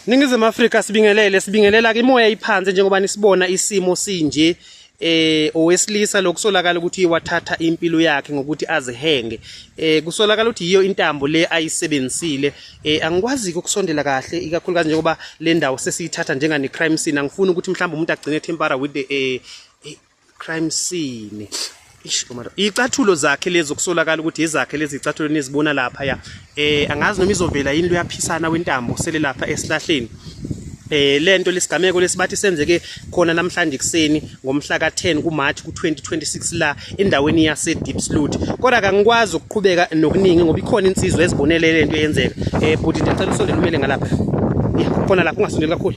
Ningizimu Afrika sibingelele sibingelela ke imoya iphansi njengoba nisibona isimo sinje eh owesilisa lokusolakala ukuthi wathatha impilo yakhe ngokuthi azihenge eh kusolakala ukuthi yiyo intambo le ayisebenzisile eh angikwazi ukusondela kahle ikakhulukazi njengoba le ndawo sesiyithatha njengani crime scene angifuni ukuthi mhlawumbe umuntu agcine tempera with the eh crime scene icathulo zakhe lezi okusolakala ukuthi izakhe lezi icathulo nizibona lapha ya eh angazi noma izovela yini luyaphisana wentambo sele lapha esihlahleni eh lento lesigameko lesibathi senzeke khona namhlanje kuseni ngomhla ka10 kuMarch ku2026 la endaweni yase Deep Sloot kodwa kangikwazi ukuqhubeka nokuningi ngoba ikhona insizwa ezibonele lento yenzeka eh bhuti ndicela usondele umele ngalapha khona lapha ungasondeli kakhulu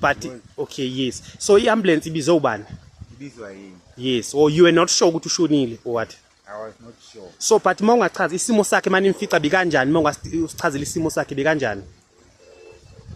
but okay yes so i-ambulance ibizwe ubani ibizwa yini yes or you were not sure ukuthi ushonile or what I was not sure. So but uma ungachaza isimo sakhe manje imfica bikanjani uma ungasichazela isimo sakhe bikanjani?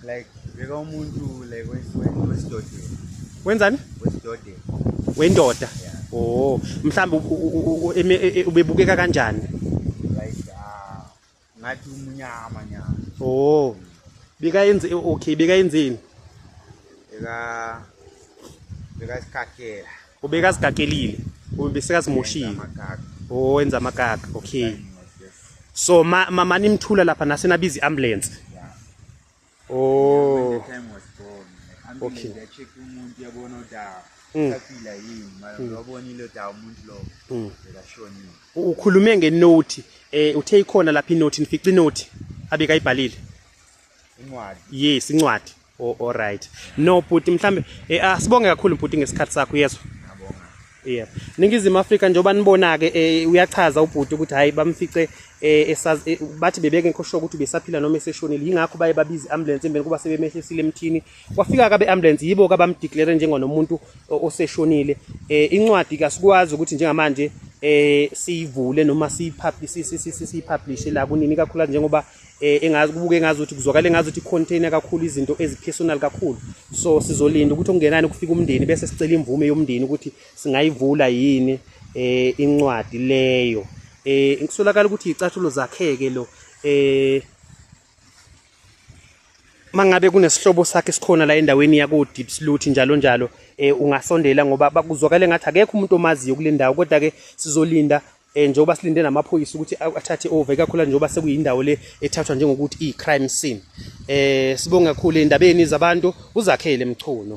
Like beka umuntu like wesidodeni. Wenzani? Wesidodeni. Wendoda. Oh, mhlawumbe ubebukeka kanjani? ngathi umnyama nyama oh bika yenze okay bika yenzeni bika bika isikakela ubeka sigakelile ubesikasimoshiwe oh wenza amakaka okay so ma mama nimthula lapha nasenabiza iambulance Oh. When the time was born. Like, okay. They check umuntu yabona udawa. Mm. Saphila yini mara mm. wabonile udawa umuntu lo. Mm. Bekashonile. Ukhulume ngenothi eh uthe ikhona lapha inothi nifica inothi abeka ibhalile. Incwadi. Yes, incwadi. Oh, all right. No bhuti mhlambe eh asibonge ah, kakhulu bhuti ngesikhathi sakho yezwa. Yeah. Ningizimu Afrika njengoba nibona ke eh, uyachaza ubhuti ukuthi hayi bamfice eh, esazi eh, bathi bebeke nkoshwa ukuthi besaphila noma eseshonile yingakho baye babiza ambulance embe kuba sebemehlisile emthini kwafika kabe ambulance yibo ka bamdeclare njengonomuntu oseshonile eh, incwadi kasikwazi ukuthi njengamanje eh siyivule noma siyipublish siyipublish la kunini kakhulu njengoba eh engazi kubuke ngazi ukuthi kuzwakala engazi ukuthi container kakhulu izinto ezipersonal kakhulu so sizolinda ukuthi okungenani kufika umndeni bese sicela imvume yomndeni ukuthi singayivula yini eh incwadi leyo eh ngisolakala ukuthi icathulo zakheke lo eh mangabe kunesihlobo sakhe sikhona la endaweni yako Deep Sluthi njalo njalo eh ungasondela ngoba bakuzwakala ngathi akekho umuntu omaziyo kule ndawo kodwa ke sizolinda eh njengoba silinde namaphoyisa ukuthi athathe over kakhulu njengoba sekuyindawo le ethathwa njengokuthi i crime scene eh sibonga kakhulu endabeni zabantu uzakhele mchuno